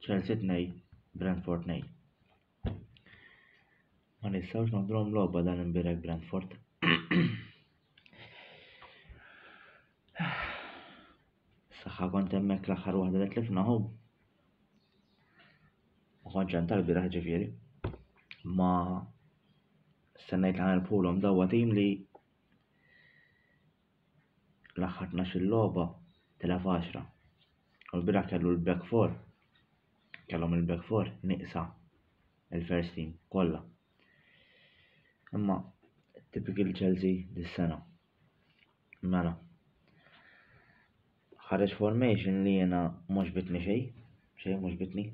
Chelsea 2, Brentford 2. Ma nistgħux nagħmluhom logħba dan imbirek Brentford. Saħħa kont hemmhekk l-aħħar waħda li tlifna hu. Ma kontx hemm tal-bieraħ ġifieri. Ma sennejt li ħanilpulhom dawwa tim li l-aħħar tnax-il logħba tela' f'għaxra u l-bieraħ kellu l-back four kellhom il-back four nieqsa il-first team kollha. Imma typical Chelsea dis-sena. Mela. Ħareġ formation li jena mhux bitni xejn, xejn mhux bitni.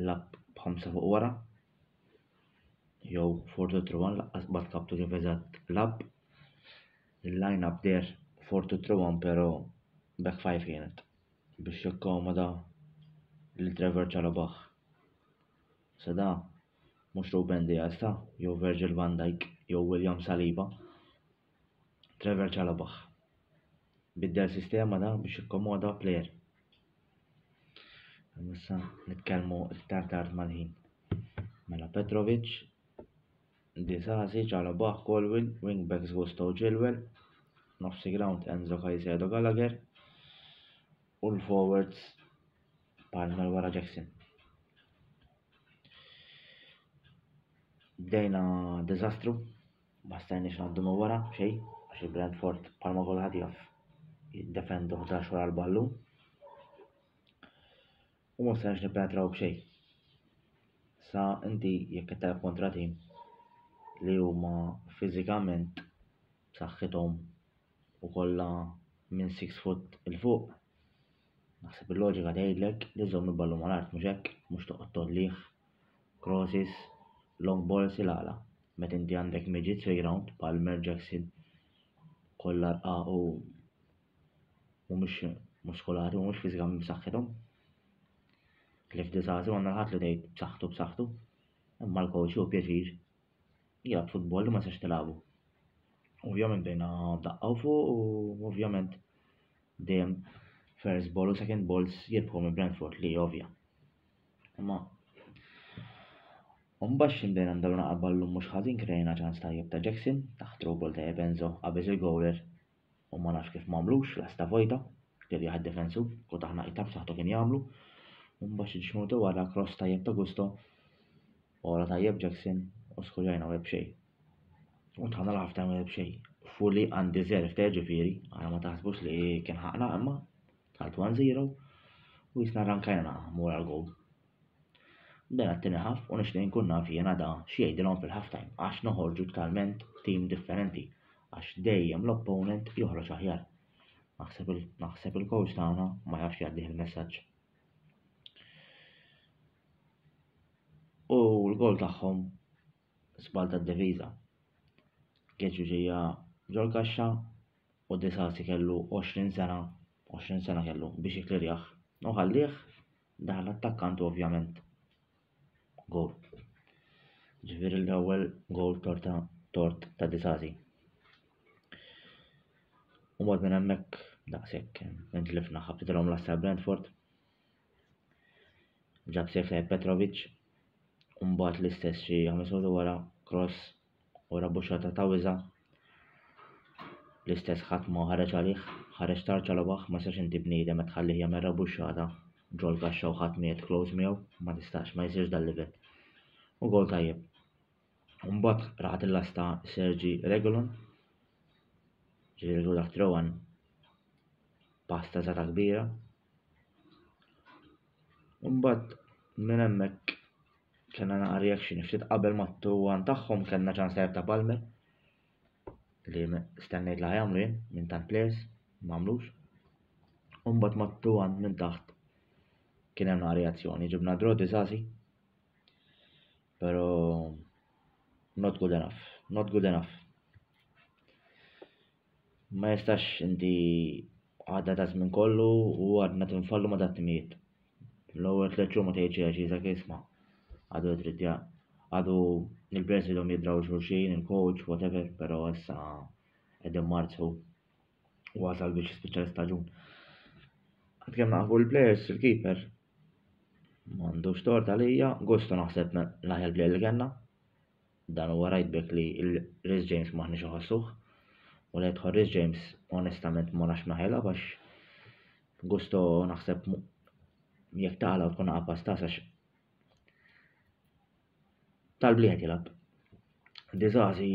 l-app b'ħamsa fuq wara jew Fortwo Truwan laqqas qatt kaptu kif eżatt lab. Il-line up der Fortwo Truwan però back five kienet biex jikkomoda lil Trevor Chalobah. Sa da mhux Ruben Dias ta' jew Virgil van Dijk jew William Saliba. Trevor Chalobah biddel sistema da biex ikkomoda player. Nissa nitkellmu iktar tard mal-ħin. Mela Petrovic, Disasi, Chalobah, Colwyn, wingbacks Gusto Chilwell, nofsi ground Enzo Caicedo Gallagher u l-forwards Palmer wara Jackson. Bdejna dizastru Ma stajniex ngħaddu minn wara b'xejn għax il-Brentford bħalma kulħadd jaf jiddefendu 11 wara l-ballun. U ma stajniex nippenetraw b'xejn. Sa inti jekk qed telgħab kontra tim li huma fiżikament b'saħħithom u kollha minn 6 foot il fuq, naħseb il-loġika tgħidlek li żomm il-ballun mal-art mhux hekk, mhux toqgħod tollih crosses, long balls il-għala. Meta inti għandek meġid three round bħal Mer Jackson kollha rqa' u mhumiex muskolati, mhumiex fiżikament b'saħħithom. Cliff Disasi għandna ħadd li tgħid b'saħħtu b'saħħtu. Imma l-coach hu pjaċir jgħid futbol li ma sax tilagħbu. Ovvjament bejna daqqaw fuq u ovvjament dejjem first ball u second balls jirbħu minn Brentford li ovvja. Ma Umbax xinbejna mdaw naqabba l-lum mux ħazin krejna ċans tajjeb ta' Jackson, taħt through ball ta' Ebenzo qabeż il-goaler u ma nafx kif m'għamlux lasta vojta, kellu jaħad defensu, kut aħna qita b'saħħtu kien jagħmlu. Umbax ġiex minuti wara cross tajjeb ta' Gusto, ora tajjeb Jackson u skurjajna web xej. U tħanna l-ħaf ta' web xej. Fully undeserved ta' ġifiri, għana ma taħsbux li kien ħaqna imma Għalt 1-0 u jisna ranka jena mura l-gog. Bena t-tini ħaf u nishtiq nkun naf jena da xiejdilom fil-half time għax noħorġu talment tim differenti għax dejjem l-opponent joħroġ aħjar. Naħseb il-coach tagħna ma jafx jgħaddih il-messaġġ. U l-gol tagħhom sbal tad-deviża. Keċu ġejja ġol kaxxa u De Sassi kellu 20 sena, 20 sena kellu, biex jiklirjah u ħallih, daħal l-attakkant u ovvjament goal. Ġifieri l-ewwel goal torta tort ta' De Sassi. U mod minn hemmhekk daqshekk intlifna ħabtilhom l-assa Brentford. Ġab sejf Petrovic, Umbat l-istess xi ħames minuti wara cross u rabbuxxata ta' wiża'. L-istess ħadd ma ħareġ għalih, ħareġ tard ġo l-għabaħ, ma jistax inti bniedem qed tħallih jagħmel rabbuxxata ġol-kaxxa u ħadd miegħed close miegħu, ma tistax, ma jsirx dal-livell. U goal tajjeb. U mbagħad raħat il-lasta Sergi Regulon, ġifieri dak Trowan pasta zata kbira, Imbagħad minn hemmhekk kellna naqa' reaction ftit qabel mat-tuwan tagħhom kellna ċans tajjeb ta' Palmer li stennejt li ħajamlu jien minn tant players m'għamlux. Imbagħad mat-tuwan minn taħt kien hemm naqa' reazzjoni ġibna draw diżażi. Però not good enough, not good enough. Ma jistax inti għadda ta' żmien kollu u għadna tinfallu ma' dat-timijiet. L-ewwel tliet xhur ma tgħid xejn dak isma' għadu trid ja għadu il-players idhom jidraw xulxin, il-coach, whatever, però issa qegħdin marzu wasal biex jispiċċa l-istaġun. Għad kemm naqfu l-players il-keeper m'għandux tort għalija, Gusto naħseb l-aħjar player li kellna. Dan huwa right back li Reece James m'aħniex iħossuh. U li jidħol Reece James onestament ma nafx ma ħelgħab għax Gusto naħseb jekk taqla tkun għapa stas għax tal-bliet jilab. Dizazi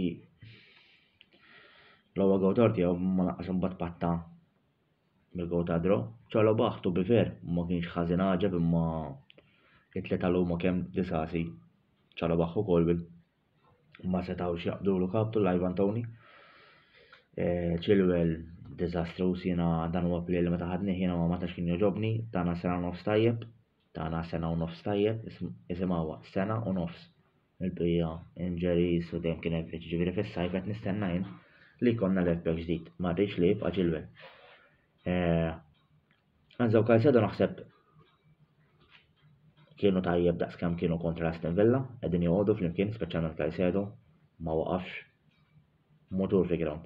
l-ewwel gawdor tiegħu ma naqqas imbagħad patta Mirko Tadro, Ċarlo Bah to be fair ma kienx ħażin għaġeb imma it-tlieta għal huma kemm disgħasi Ċarlo Bah u Colwill ma setgħux jaqbdulu kap tul Ivan Tony. Eh, Chilwell diżastruż jiena dan huwa play li meta ħadnih jiena ma tax kien joġobni, tagħna sena nofs tajjeb, tagħna sena u nofs tajjeb, isimgħuha sena u nofs. mill-bqija Inġeriż u dejjem kien hemm fiċ, jiġifieri fis-sajf qed nistenna jien li jkollna left back ġdid, ma rridx li jibqa' Chilwell. Enzo Caicedo naħseb kienu tajjeb daqs kemm kienu kontra Aston Villa, qegħdin joqogħdu flimkien speċjalment Caicedo ma waqafx motur fi ground.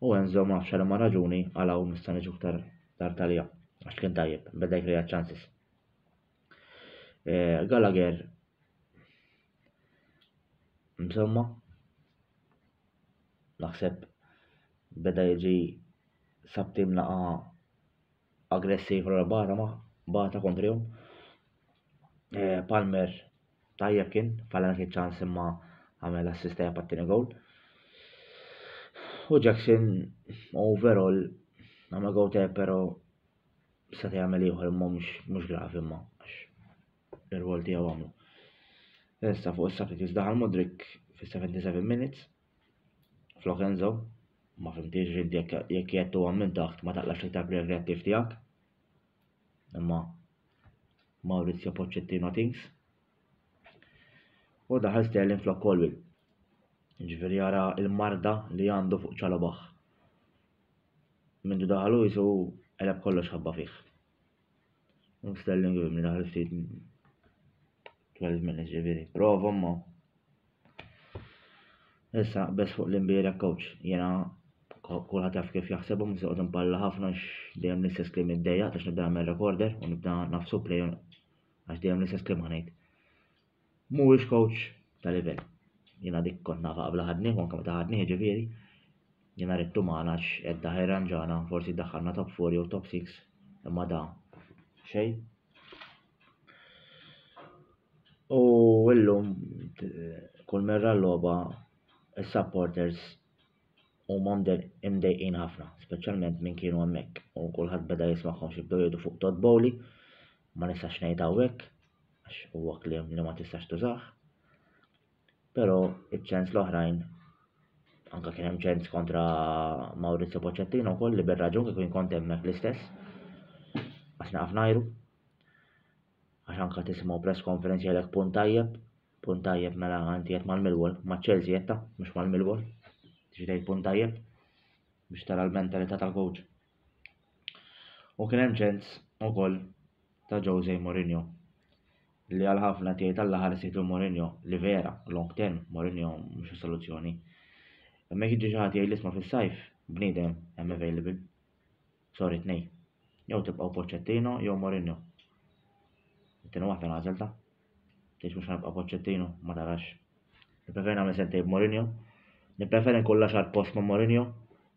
U Enzo ma nafx ma raġuni għal hawn nista' niġu aktar tard għalija għax kien tajjeb, beda jkreja ċansis. Eh, Gallagher Insomma, naħseb beda jiġi sabtim laqa aggressiv l barra ma bata kontrihom. Eh, Palmer tajjeb kien, falla kien ċans imma għamel assista japattini gol. U Jackson overall għamel gol te pero Seta' jagħmel ieħor imma mhux mhux gravi imma għax ir-rwol tiegħu għamlu. Issa fuq is-substitutes daħal Mudrik fis-77 minutes flok Enzo ma fimtiex rid jekk jett huwa minn taħt ma taqlax iktar preventiv tiegħek. Imma Maurizio Pochettino things. U daħal Sterling flok Colwell. Ġifieri jara l-marda li għandu fuq ċalobaħ. Mindu daħal Luis u qeleb kollox ħabba fih. U Sterling u li daħal ftit 12 minutes ġifieri. Prova ma. Issa bes fuq l-imbira coach. Jena kulħadd jaf kif jaħsebhom se qogħod impalla ħafna dejjem l-istess kliem id-dejja għax nibda nagħmel recorder u nibda nafsu play għax dejjem l-istess kliem ħanejt. Mhuwiex coach ta' livell. Jiena dik kont nafha qabel ħadnieh u anke meta ħadnieh jiġifieri. Jiena ridtu magħna għax hekk daħħel irranġana, forsi ddaħħalna top four jew top six, imma da xejn. U illum kull merra l-logħba is-supporters huma imdejqin ħafna, speċjalment minn kienu hemmhekk u kulħadd beda jismagħhom xi bdew jgħidu fuq Todd Bowley, ma nistax ngħid hawnhekk, għax huwa kliem li ma tistax tużah. Però iċ-ċens l-oħrajn anka kien hemm ċens kontra Maurizio Pochettino wkoll li bir-raġun kieku kont hemmhekk l-istess. Għax naqaf najru. Għax anka tisimgħu press konferenzi għalek punt tajjeb, punt tajjeb mela għanti qed mal-Millwall, ma' Chelsea qed mhux mal-Millwall. Tixtej punt tajjeb biex tara l-mentalità tal-coach. U kien hemm ċens ukoll ta' Jose Mourinho li għal ħafna tiegħi tal-aħħar situ Mourinho li vera long term Mourinho mhux soluzzjoni. Imma jekk jiġi xi ħadd jgħid l-isma fis-sajf, bniedem hemm available. Sorry tnej. Jew tibqgħu Pochettino jew Mourinho. It-tieni waħda nagħżel ta'. Tgħidx mhux ħanibqa' Pochettino, ma tarax. Nippreferi nagħmel sentej b'Mourinho. Nippreferi nkun l-għaxar post ma' Mourinho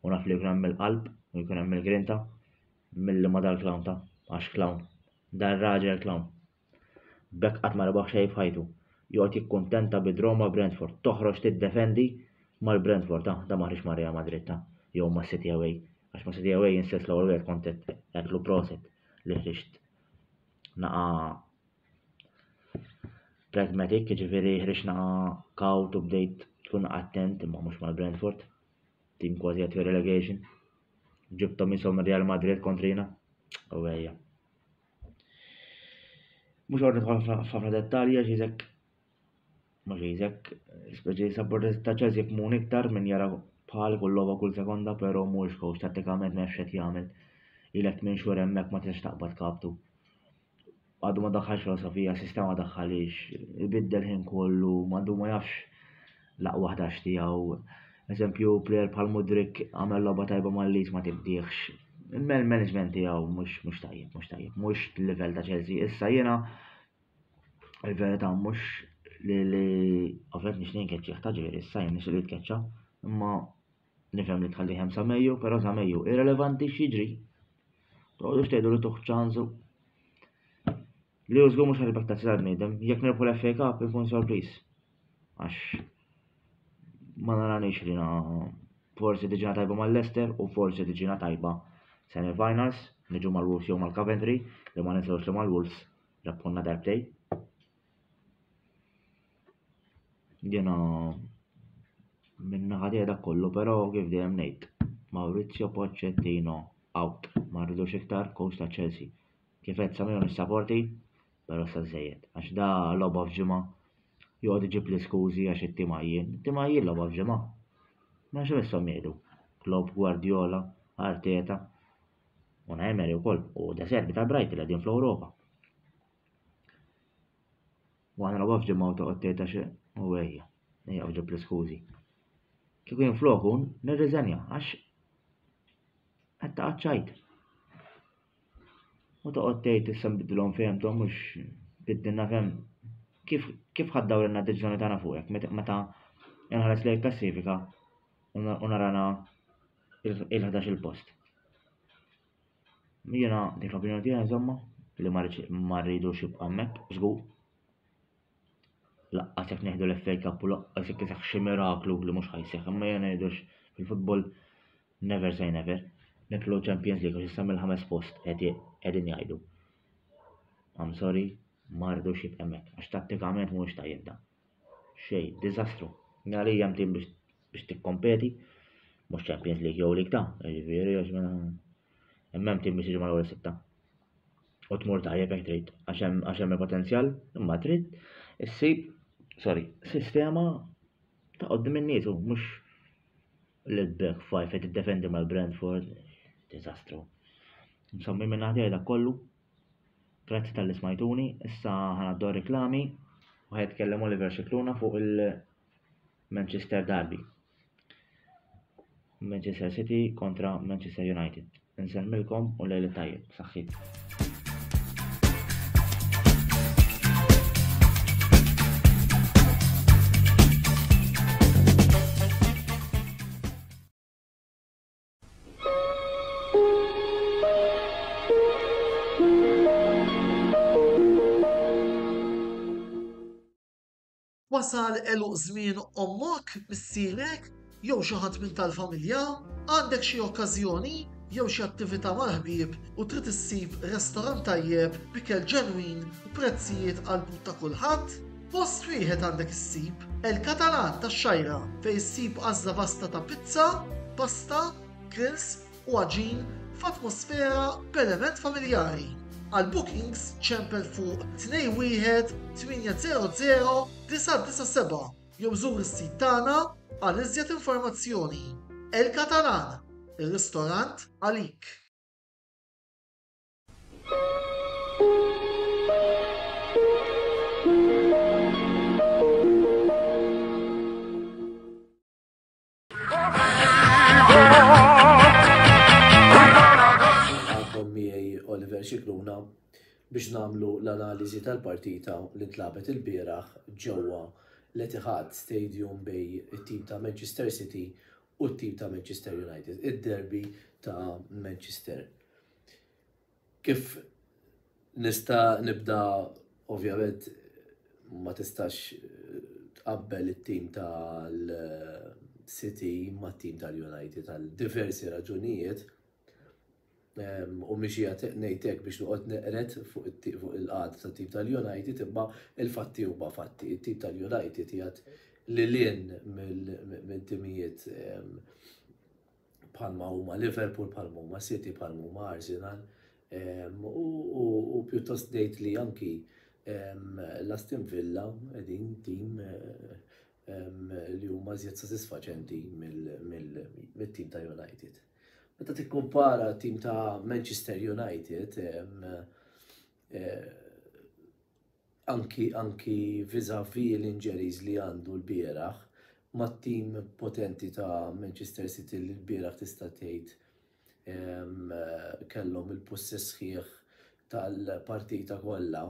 u naf li jkun hemm il-qalb u jkun hemm il-grinta milli ma dal-clown ta' għax clown. Dar raġel clown. Bekk qatt ma rebaħ xejn f'ħajtu. Joqgħod jikkuntenta bi draw ma' Brentford, toħroġ tiddefendi mal-Brentford, ah, da ma ħriġx ma' Real Madrid ta' jew ma' City away. Għax ma' City away insess l-ewwel wieħed kont qed proset li ħriġt naqa' pragmatic, jiġifieri ħriġna kawt u bdejt tkun attent imma mhux mal-Brentford. Tim kważi għat relegation. Ġibtom jisom Real Madrid kontrina. U għajja. Mhux għorri tħol f'ħafna dettalji għax jizek Mhux iżek, speċi supporters ta' Chelsea jifhmun iktar minn jara bħal kull logħba kull sekonda però mhuwiex coach tattikament m'hemmx x'qed jagħmel. Ilek tmien xhur hemmhekk ma tistax taqbad kaptu. Għadu ma daħħalx filosofija, sistema daħħalix, ibiddel ħin kollu, għadu ma jafx l-aqwa 11 tiegħu. Eżempju, plejer bħal Mudrik għamel logħba tajba mal-lis ma tibdiex. Il-management tiegħu mhux tajjeb, mhux tajjeb, mhux livell ta' Chelsea. Issa jiena Il-verità mhux li li ovvjament nixtieq nkeċċih ta' ġieli issa jien nixtieq li jitkeċċa, imma nifhem li tħallih hemm sa Mejju, però sa Mejju irrelevanti x'jiġri. Toqgħodux tgħidu li tuħ ċansu. Li hu żgur mhux ħalibek tazzi tal-bniedem, jekk nirbħu l-FA Cup ikun sorpriż. Għax ma naranix li na forsi tiġina tajba mal-Leicester u forsi tiġina tajba semi-finals, niġu mal-Wolves jew mal-Coventry, li ma ninsewx li mal-Wolves Rapponna darbtej. Jena minna ħadija da kollu, pero kif dejjem ngħid. Maurizio Pochettino out. Ma rridux iktar coach ta' Chelsea. Kif qed samiju nissaporti, pero sa żejjed. Għax da logħba f'ġimgħa joqgħod iġib l-iskużi għax it-timajjin. Timajjin logħba f'ġimgħa. Ma xi missom jgħidu. Klopp, Guardiola, Arteta. Una Emery wkoll u De Serbi ta' Bright li qegħdin fl-Ewropa. U għana rawa fġimma u toqgħod tgħid għax u għejja, ejja fġib l-iskużi. Kieku jien floku nirriżenja għax qed taqgħod ċajt. U toqgħod tgħid issa nbidilhom fehmthom mhux biddilna fehm kif kif ħaddaw lilna deċiżjoni tagħna fuqek meta inħares lejn klassifika u narana il-11 post. Jiena dik l-opinjoni tiegħi insomma li ma rridux jibqa' hemmhekk, żgur. Laqqas jekk neħdu l-FA Cup u laqqas jekk isaħ xi miraklu li mhux ħajseħ, imma jien ngħidux fil-futbol never say never. Niklu Champions League għax issa mill-ħames post qegħdin jgħidu. I'm sorry, ma rridux jibqa' hemmhekk għax tattikament mhuwiex tajjeb dan. Xejn, diżastru. Għalija hemm tim biex biex tikkompeti, mhux Champions League jew League ta', jiġifieri għax mela hemm hemm tim biex jiġi mal-ewwel sitta. U tmur tajjeb jekk trid, għax hemm għax hemm il-potenzjal, imma trid issib, sorry, sistema ta' qoddim in-nies u mhux li tbek fajf qed tiddefendi mal-Brentford, diżastru. Insomma, minn ħadd kollu, Grazzi tal-li smajtuni, issa ħanaddu reklami u ħajtkellem Oliver Xikluna fuq il-Manchester Derby. Manchester City kontra Manchester United. Nsemmilkom u lejli tajjeb, saħħit. Wasal eluq żmien ommok, missierek, jew xi ħadd minn tal-familja, għandek xi okkażjoni jew xi attività mal-ħbieb u trid issib restorant tajjeb b'ikel ġenwin u prezzijiet għall-but ta' kulħadd? Fost riħet għandek issib El-Catalan tax-Xgħira fejn issib għażla vasta ta' pizza, pasta, grills u għaġin f'atmosfera b'element familjari. Għal bookings ċempel fuq 21800 jew żur is-sit tagħna għal iżjed informazzjoni. El-Catalan, ir-ristorant għalik! biex namlu l-analiżi tal-partita li tlabet il-bieraħ ġewwa l-Etihad Stadium bej it-tim ta' Manchester City u t-tim ta' Manchester United, id-derby ta' Manchester. Kif nista' nibda ovvjament ma tistax tqabbel it-tim tal-City ma' tim tal-United għal diversi raġunijiet ehm, u miex jgħat nejtek biex nuqot neqret fuq il-qad ta' tim tal-United imma il-fatti huma fatti. Il-tim tal-United jgħat li l-in minn timijiet ehm, bħalma huma Liverpool, bħalma huma City, bħalma huma Arsenal. U pjuttost ngħid li anki l-Aston Villa qegħdin tim li huma żjed sodisfaċenti mill-tim ta' United. Meta tikkumpara tim ta' Manchester United, Anki anki vis-à-vis l-injuries li għandu lbieraħ mat-team potenti ta' Manchester City li lbieraħ tista' tgħid kellhom il-pussess sħiħ tal-partita kollha,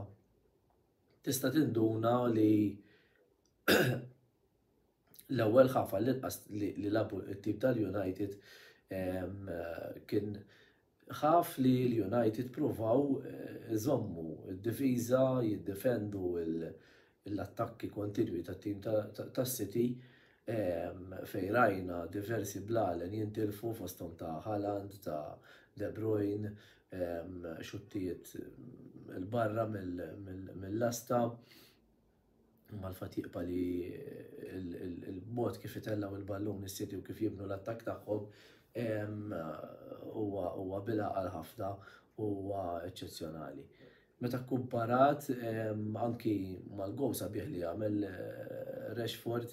tista' tinduna li l-ewwel ħaf għall-inqas li lagħbu t-team tal-United kien Ħaf li l-United pruvaw iżommu d-difiża, jiddefendu l-attakki kontinwi tat-tim tas-City fejn rajna diversi blalen jintilfu fosthom ta' Haaland, ta' De Bruyne, xuttijiet 'l barra mill-lasta. Malfatti jibqa' li l-mod kif itellgħu l-ballun is-City u kif jibnu l-attakk tagħhom huwa bil-għaqal ħafna u huwa eċċezzjonali. Meta kkumparat anki mal-gowl sabiħ li għamel Rashford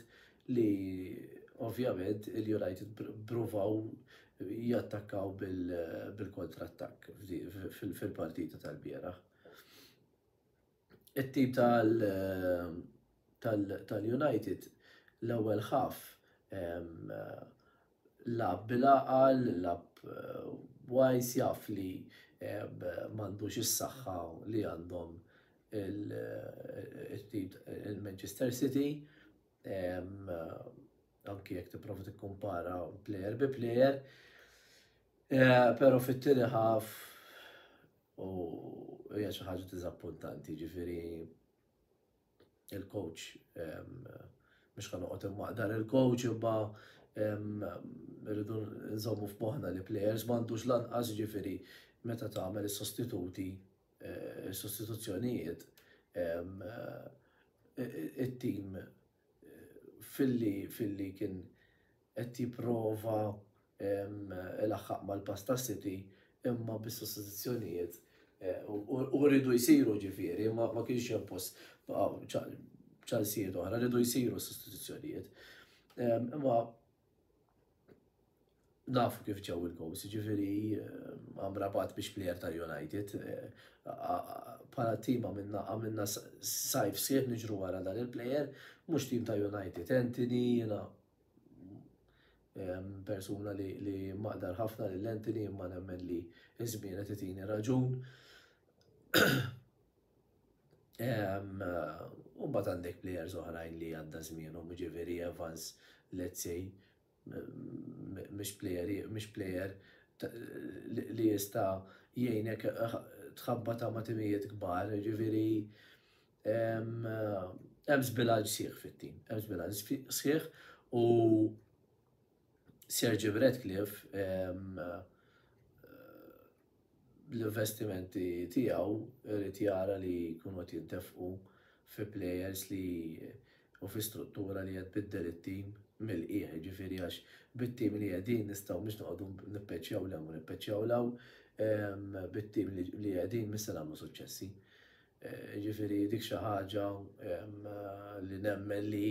li ovvjament il-United provaw jattakkaw bil-kontrattakk fil-partita tal-bieraħ. it-tim tal-United l-ewwel ħaf lab bil-għaqal, lab wajs jaf li m'għandux is-saħħa li għandhom it-tim il-Manchester City anki jekk tipprova tikkumpara plejer bi plejer. Pero fit-tieni ħaf U hija xi ħaġa diżappuntanti, jiġifieri il-coach mhux ħa noqgħod immaqdar il-coach imma rridu nżommu f'moħħna li plejers m'għandux lanqas jiġifieri meta tagħmel is-sostituti eh, is-sostituzzjonijiet it-tim filli filli kien qed jipprova ilaħħaq mal-Pasta City imma bis-sostituzzjonijiet u rridu jsiru ġifieri ma kienx hemm post ċansijiet oħra rridu jsiru sostituzzjonijiet. Imma nafu kif ġew il-goals, ġifiri eh, amrabat biex plejer tal-United. Para eh, tim għamilna għamilna sajf sħiħ nġru għara dan il-plejer, mux tim ta' United. Anthony jena persuna li maqdar ħafna l-Anthony imma nemmen li izmienet itini raġun. U mbagħad għandek plejers oħrajn li għadda żmienhom, jiġifieri Evans, let's say, mhix plejer, mhix plejer li jista' jgħinek tħabbata ma' timijiet kbar, jiġifieri hemm żbilanċ sieħ fit-tim, hemm żbilanċ sieħ u Serge Redcliffe bl-investimenti tiegħu jrid jara li jkunu qed jintefqu fi plejers li u fi struttura li qed tbiddel it-tim mill-qiegħ, jiġifieri għax bit-tim li qegħdin nistgħu mhux noqogħdu nippeċċjaw 'l hemm u nippeċċjaw 'l hawn, bit-tim li qegħdin mhux se nagħmlu suċċessi. Jiġifieri dik xi ħaġa li nemmen li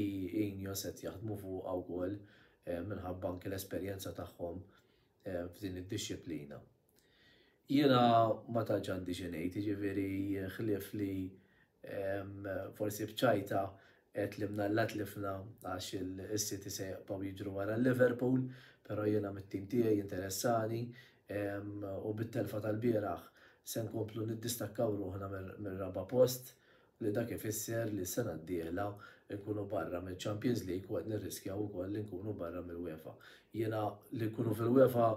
Ineos qed jaħdmu fuqha wkoll minħabba anke l-esperjenza tagħhom eh, f'din id-dixxiplina. Jiena ma tantx għandi xi ngħid, jiġifieri ħlief li ehm, forsi bċajta qed li mnalla tlifna għax il-City se jaqpaw jiġru wara Liverpool, però jiena mit-tim tiegħi interessani ehm, u bit-telfa tal-bieraħ se nkomplu niddistakkaw ruħna mir-raba post li dak ifisser li s-sena d-dieħla nkunu barra mill-Champions League u qed nirriskjaw ukoll li nkunu barra mill-UEFA. Jiena li nkunu fil-UEFA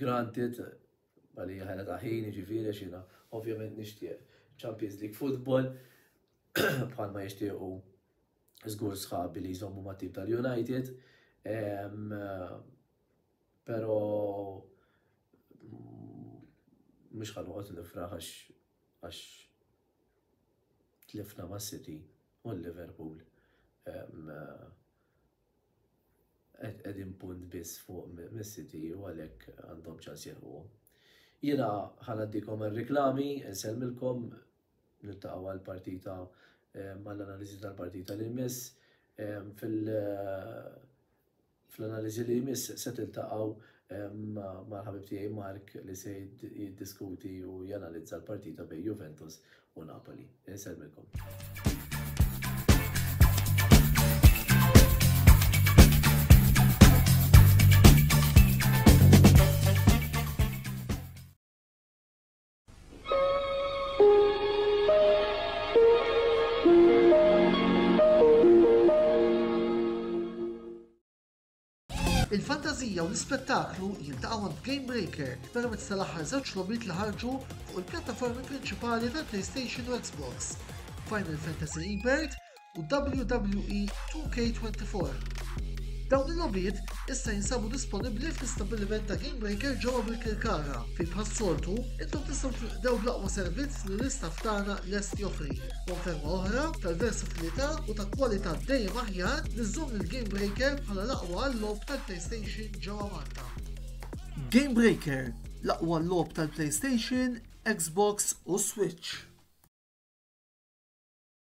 granted għalija ħela ta' ħin jiġifieri għax jiena ovvjament nixtieq Champions League football bħalma jixtiequ żgur sħabi li jżommu ma' tip tal-United. Pero mhux ħanoqgħod nifraħ għax tlifna ma' City u Liverpool qegħdin punt biss fuq mis-City u għalhekk għandhom ċans jilħuhom. Jiena ħanaddikom għal-reklami, nsellmilkom nittaqgħu għal-partita mal-analiżi tal-partita li jmiss fil- Fl-analiżi li jmiss se tiltaqgħu mal-ħabib tiegħi Mark li se jiddiskuti u janalizza l-partita bejn Juventus u Napoli. Insellmilkom. Il-fantazija u l-ispettaklu jiltaqgħu għand Game Breaker permezz tal-aħħar żewġ logħbiet li ħarġu fuq il-pjattaformi prinċipali tal-PlayStation u Xbox. Final Fantasy Rebirth u WWE 2K24. Dawn il-logħbiet issa jinsabu disponibbli fl-istabbiliment ta' Gamebreaker ġewwa Birkirkara fejn bħas-soltu intom tistgħu tilqdew bl-aqwa servizz li l-istaff tagħna lest joffri. Konferma oħra tal-versatilità u ta' kwalità dejjem aħjar li żżomm lil Gamebreaker bħala l-aqwa għal-logħob tal-PlayStation ġewwa Malta. Gamebreaker, l-aqwa logħob tal-PlayStation, Xbox u Switch.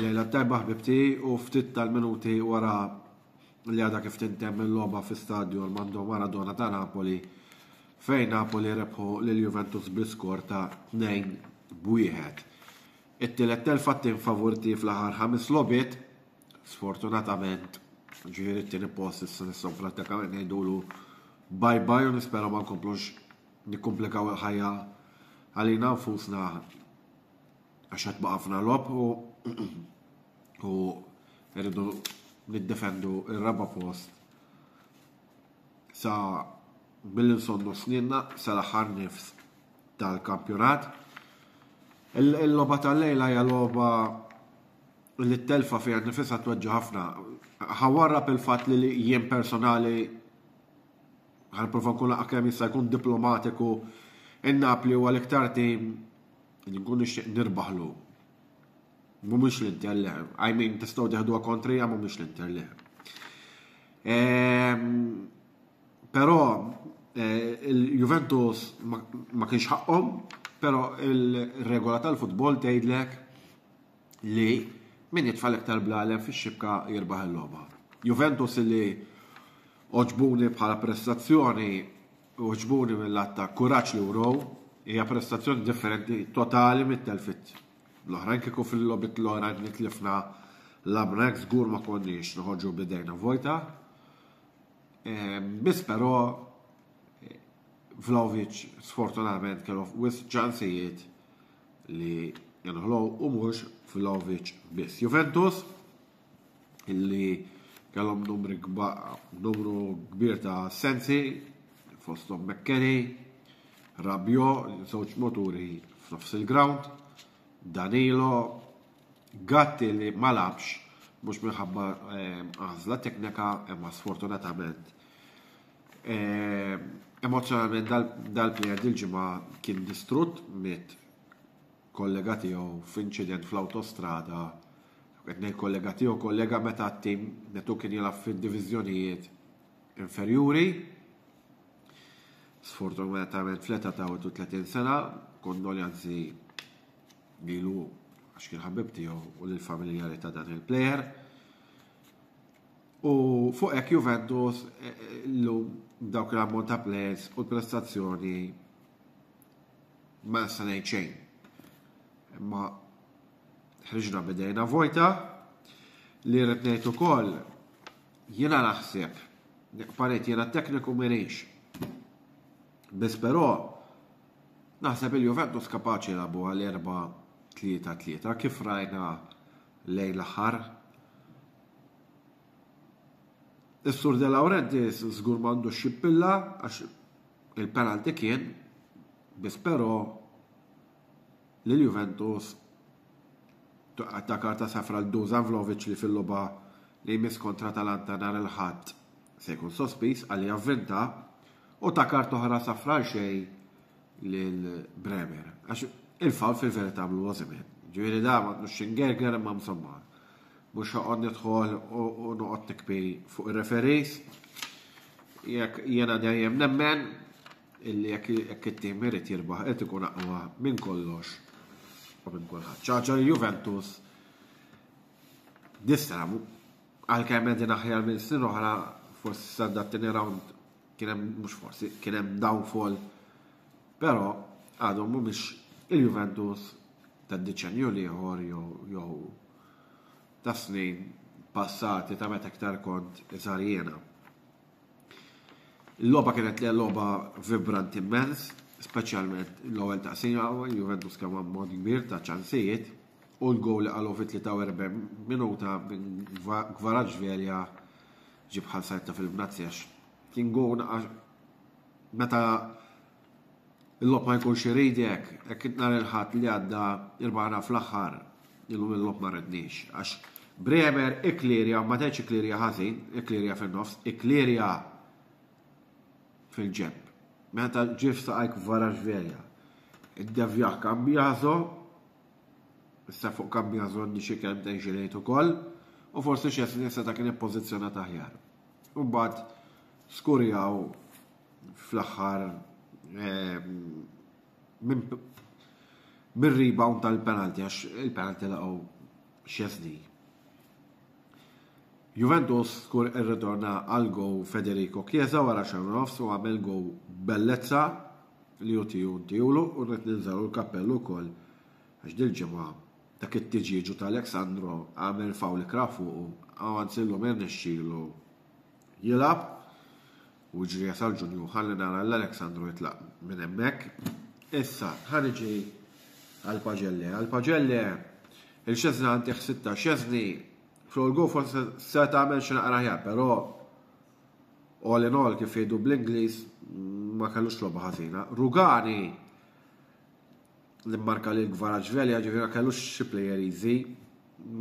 Lejla tajba ħbibti u ftit tal-minuti wara li għada kif tintem il-loba fi stadju l-Mando Maradona ta' Napoli fejn Napoli rebħu l-Juventus biskor ta' 2 b'wieħed. It-tielet telfa tim favurti fl-aħħar ħames lobit, sfortunatament ġifieri t-tieni post issa nistgħu prattikament ngħidulu bye bye u nispera ma nkomplux nikkumplikaw il-ħajja għalina nfusna għax qed baqa' ħafna logħob u u rridu niddefendu r-raba' post sa billi nsonnu snidna sal-aħħar nifs tal-kampjonat. Il-logħba tal-lejla hija logħba li t-telfa fiha nifisha tweġġa' ħafna. Ħawarra bil-fatt li jien personali Ħa nipprova nkun laqgħa kemm jista' jkun diplomatiku in-Napli huwa l-iktar tim li nkun nixtieq nirbaħlu. Mhumiex l-Inter le, I mean tistgħu teħduha kontrija mhumiex l-Inter le. Ehm, però eh, il-Juventus ma kienx ħaqqhom, però il-regola tal-futbol tgħidlek li min jitfal iktar blalem fix-xibka jirbaħ il-logħba. Juventus li Għoġbuni bħala prestazzjoni, għoġbuni mill-għadd ta' kuraġġ li wrew. Hija prestazzjoni differenti totali mit-telfiet l-oħrajn. Kieku fil-logħbiet l-oħra li tlifna labna hekk żgur ma konniex noħorġu b'idejna vojta. Ehm, biss però Vlaovic sfortunatament kellu wis ċansijiet li jenħlow u mhux Vlaovic biss. Juventus illi kellhom numri numru kbir ta' sensi fosthom Mekkeni, Rabio, żewġ moturi f'nofs il-ground, Danilo, Gatti li ma labx mhux minħabba ehm, għażla teknika imma sfortunatament. Ehm, emozjonalment dal-plejer dil-ġimgħa kien distrutt mit kollega tiegħu f'inċident fl-awtostrada, qed ngħid kollega tiegħu, kollega meta t-tim netu kien jilgħab fid-diviżjonijiet inferjuri. Sfortunatament fl-età ta' 30 sena, kondoljanzi lilu għax kien ħabib tiegħu u lill-familjari ta' dan il-plejer. U fuq hekk Juventus eh, eh, l-lum dawk l-ammont ta' plejers u l-prestazzjoni Ma nista' ngħid xejn. Imma ħriġna bidejna vojta li rrid ngħid ukoll jiena naħseb paret jiena tekniku minix. Biss però naħseb il-Juventus kapaċi labu għal 4-3-3 kif rajna lejn l-aħħar Is-Sur De Laurentiis żgur m'għandux jippilla għax il-penalty kien biss però lil Juventus ta' karta safra l Dusan Vlovic li fil-logħba li jmiss kontra Talanta nhar il-Ħadd se jkun sospiż għal javvinta u ta' karta oħra safra għal xejn lil Bremer. Għax il-fawl fil-verità għamlu Osimhen. Ġifieri da ma tnux xingerger imma msomma. Mhux ħoqgħod nidħol u noqgħod nikbi fuq ir-referees. Jekk jiena dejjem nemmen illi jekk it-tim irid jirbaħ qed ikun aqwa minn kollox u minn kulħadd. Ċaġa li Juventus nistramu għalkemm qegħdin aħjar minn snin oħra forsi s-sanda t-tieni round Kien hemm mhux forsi, kien hemm downfall, però għadhom mhumiex il-Juventus tad diċenju l-ieħor jew ta' snin passati ta' meta iktar kont iżgħar jiena. Il-logħba kienet li logħba vibrant immens, speċjalment l-ewwel taqsima, Juventus kemm ammont kbir ta' ċansijiet, u l-gowl li qalu fit-43 minuta minn Gvaraġ Verja Ġie bħal sajt ta' film Nazi għax kien gown għax meta l-lob ma jkunx iridek, hekk nhar il-ħadd li għadda irbana fl-aħħar illum il-lob ma redniex. Għax Bremer iklirja, ma tgħidx iklirja ħażin, iklirja fin-nofs, iklirja fil-ġeb. Meta ġif saqajk vara ġverja. Id-devja kambjażo Issa fuq Kambja żonni xi kelmtejn xi ngħid ukoll u forsi Szczesny seta' kien ippożizzjonat aħjar. U mbagħad skurjaw fl-aħħar ehm, minn rebound tal-penalti għax il-penalti laqgħu Szczesny. Juventus skur irritorna għal gowl Federico Chiesa wara xahar u nofs u għamel gowl b'bellezza li hu tiegħu ntiegħulu u rrid ninżagħlu l-kappell ukoll għax dil-ġimgħa dak it-tiġieġu ta' Alex Sandro għamel fawl ikrah fuqu u anzi llum irnexxielu jilgħab. U ġrija sal-ġunju ħalli nara l Aleksandru jitlaq minn hemmhekk. Issa, ħaniġi għal-Paġelle. Għal-Paġelle, il-xezna għantiħ sitta xezni, fl-olgu forse se tagħmel xi naqra ħjar, però all in all kif jgħidu bl-Ingliż ma kellux logħba ħażina. Rugani li mmarka lil Kvaratskhelia ġifieri ma kellux xi plejer easy.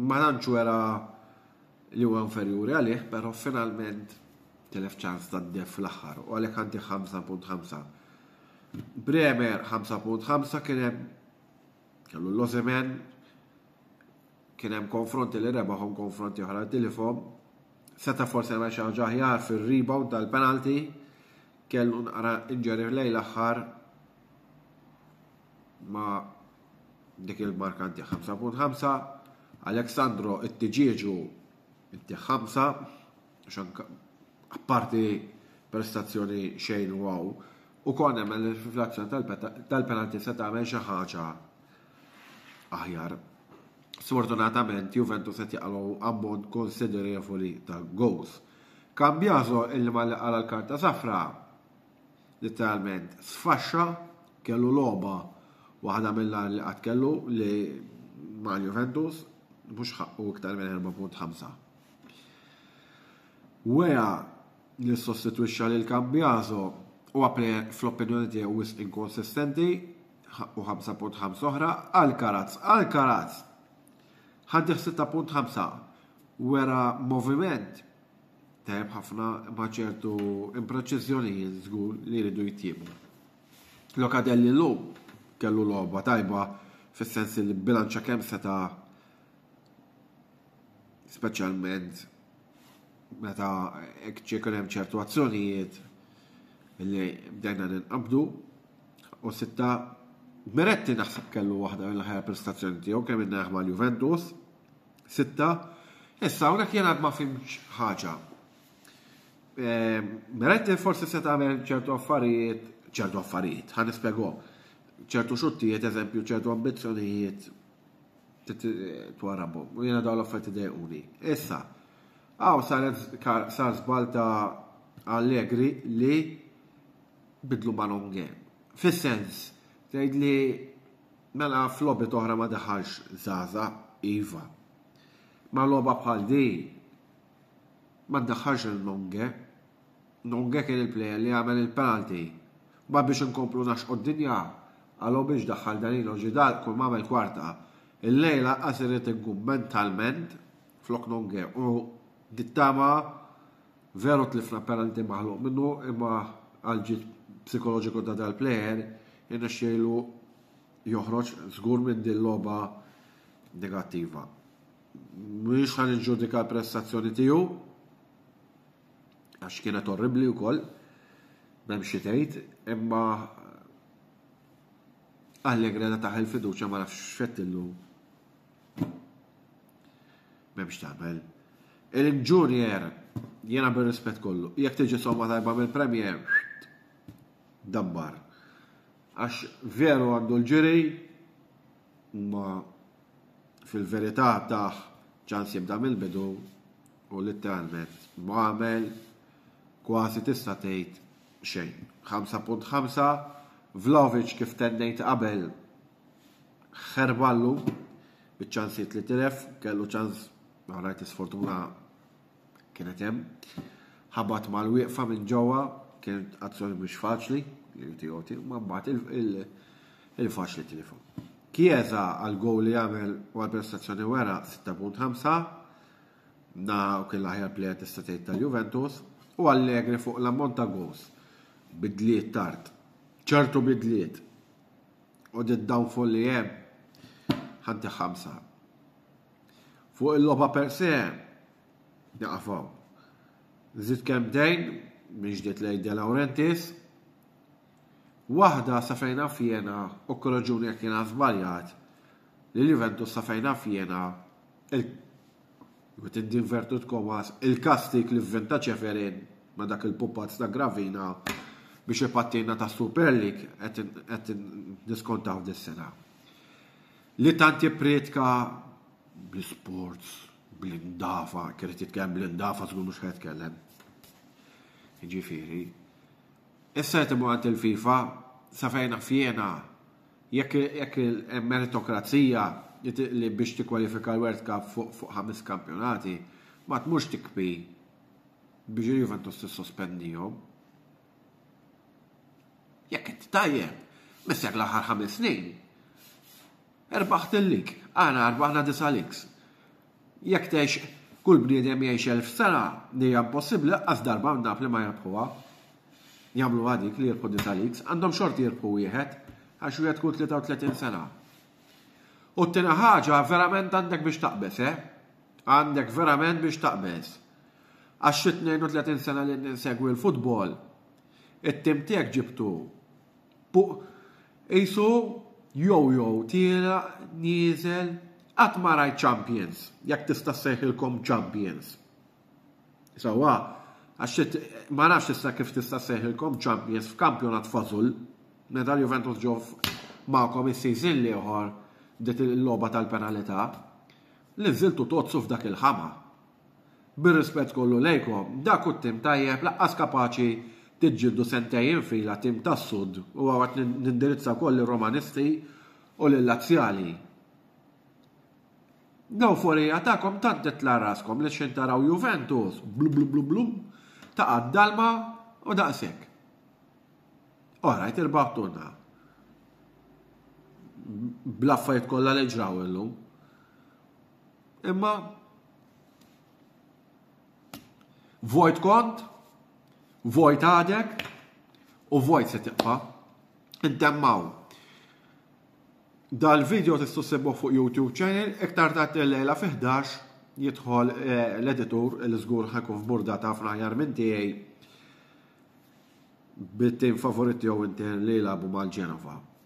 Ma tantx wera li huwa inferjuri għalih, però finalment telef ċans ta' def fl-aħħar u għalhekk għandi 5.5. Bremer 5.5 kien hemm kellu l-Ozemen kien hemm konfronti li rebaħhom konfronti oħra tilifhom. Seta forsi għamel xi ħaġa aħjar fir-rebound tal-penalty kellu nqara injury lejn l-aħħar ma dik il-marka nti 5.5, Aleksandro it-tiġieġu nti 5, xanka apparti prestazzjoni xejn u għaw, u kon emel fl-azzjoni tal-penalti se tagħmel xi ħaġa aħjar. Sfortunatament Juventus qed jaqalgħu ammont konsiderevoli ta' goals. Kambjazo il-li ma li qara l-karta safra Litteralment sfaxxa, kellu logħba waħda mill-agħar li qatt kellu li ma' Juventus mhux ħaqqu iktar minn 4.5. Wea li ssostitwixxa lil Cambiaso huwa plejer fl-opinjoni tiegħi wisq inkonsistenti, ħaqqu 5.5 oħra, Alcaraz, Alcaraz! Ħaddih 6.5, wera moviment Tajb ħafna ma' ċertu impreċiżjonijiet żgur li jridu jitjiebu. Lokadelli llum kellu logħba tajba fis-sens li bilanċa kemm seta' speċjalment meta ċekun hemm ċertu azzjonijiet li bdejna ninqabdu u sitta Meretti naħseb kellu waħda mill-ħajja prestazzjoni tiegħu kemm inneħma l-Juventus Sitta, Issa hawnhekk jien għad ma fimx ħaġa. Ehm, mela inti forsi se tagħmel ċertu affarijiet, ċertu affarijiet, ħan nispjegom. ċertu xuttijiet, eżempju, ċertu ambizzjonijiet twarabhom. U jiena dawn l-affarijiet idejquni. Issa, għaw sar żbal ta' Allegri li bidlu ma' Longe. Fis-sens, tgħid li Mela f'logħbiet oħra ma daħalx żgħażagħ, iva. Ma logħba bħal din ma ddaħħalx lil Nonge. Nonge kien il-plejer li għamel il-penalty. Ma biex inkomplu naxqu d-dinja, għalhu biex daħħal Danilo Ġidal kull ma għamel kwarta. Illejla lanqas irrid inkun mentalment flok Nonge u nittama Veru tlifna penalty maħluq minnu imma għall-ġid psikoloġiku ta' dal-player irnexxielu joħroġ żgur minn din logħba negattiva. Mhux ħa niġġudika l-prestazzjoni tiegħu għax kienet orribli wkoll m'hemm xi tgħid, imma Allegra ta' taħel fiduċja ma nafx x'fettillu Memx tabel. Il-Junior, jena bil-rispet kollu, jek tiġi somma tajba mill-Premier, dabbar. Għax veru għandu l-ġiri, ma fil-verità taħ ċans jibda mill-bidu u literalment ma għamel kważi tista' tgħid xejn. 5.5 Vlaovic kif tennejt qabel Ħerballu biċ-ċansijiet li tilef, kellu ċans rajt li sfortuna kienet hemm. Ħabat mal-wieqfa minn ġewwa, kienet azzjoni mhux faċli li tiegħu tiegħu, ma mbagħad il-faċli tilifhom. Chiesa għal gowl li għamel u għal prestazzjoni wera 6.5 na u kien l-aħjar plejer tista' tgħid tal-Juventus u Allegri fuq l-ammont ta' gows bidliet tard. ċertu bidliet U d downfall li hemm ħanti ħamsa. Fuq il-logħba per se, naqafaw. Zid kemm dejn minn ġdid lejn De Laurentiis. Waħda sa fejna fjena u korraġuni jekk jiena żbaljat li l-Juventus sa fejna fjena Ma tiddinvertutkom għas il-kastik li vvinta Ċeferin ma dak il-pupazz ta' Gravina biex ipattina ta' Super League qed niskontaw dis-sena. Li tant jipprietka bl-isports, bl-indafa, kienet jitkellem bl-indafa żgur mhux ħed kellem. Jiġifieri, issa qed imur għand il-FIFA sa fejna fjena Jekk il-meritokrazija li biex tikkwalifika l-World Cup fuq ħames kampjonati ma tmurx tikbi biex il-Juventus tissospendihom. Jekk inti tajjeb, missek l-aħħar ħames snin. Erbaħt il-lig, aħna erbaħna disa' ligs. Jekk tgħix kull bniedem jgħix elf sena, li hija impossibbli, laqqas darba minn Napli ma jirbħuha. Jagħmluha dik li jirbħu disa' leagues, għandhom xorti jirbħu wieħed, għax wieħed kull 33 sena. U t-tieni ħaġa, verament għandek biex taqbeż, eh? Għandek verament biex taqbeż. Għax xi 32 sena li ninsegwi l-futbol, it-tim tiegħek ġibtu Fuq qisu jojo tielaq nieżel qatt ma rajt champions, jekk tista' ssejħilkom champions. Sewwa, għax ma nafx issa kif tista' ssejħilkom champions f'kampjonat fażul, meta l-Juventus ġew magħkom is-season l-ieħor dik il-logħba tal-penalità, li nżiltu tozzu f'dak il-ħama. Bir-rispett kollu lejkom, dak hu tim tajjeb laqqas kapaċi tiġġieldu sentejn fila tim tas-Sud u hawn qed nindirizza wkoll lir-Romanisti u lil-Lazzjali. L-ewforija tagħkom tant titla' raskom li x'ħin taraw Juventus, blublublublum, taqa' d-dalma u daqshekk. Orajt irbaħtulna. Bl-affarijiet kollha li ġraw illum. Imma vojt kont, vojt għadek u vojt se tibqa. Intemmaw. Dal-video tistu sebbu fuq YouTube channel, iktar ta' t-lejla fi 11 jidħol eh, l-editur l-żgur ħakun f'burda ta' fraħjar minn tiegħi bit-tim favorit tiegħu inti li jilagħbu mal-Ġenova.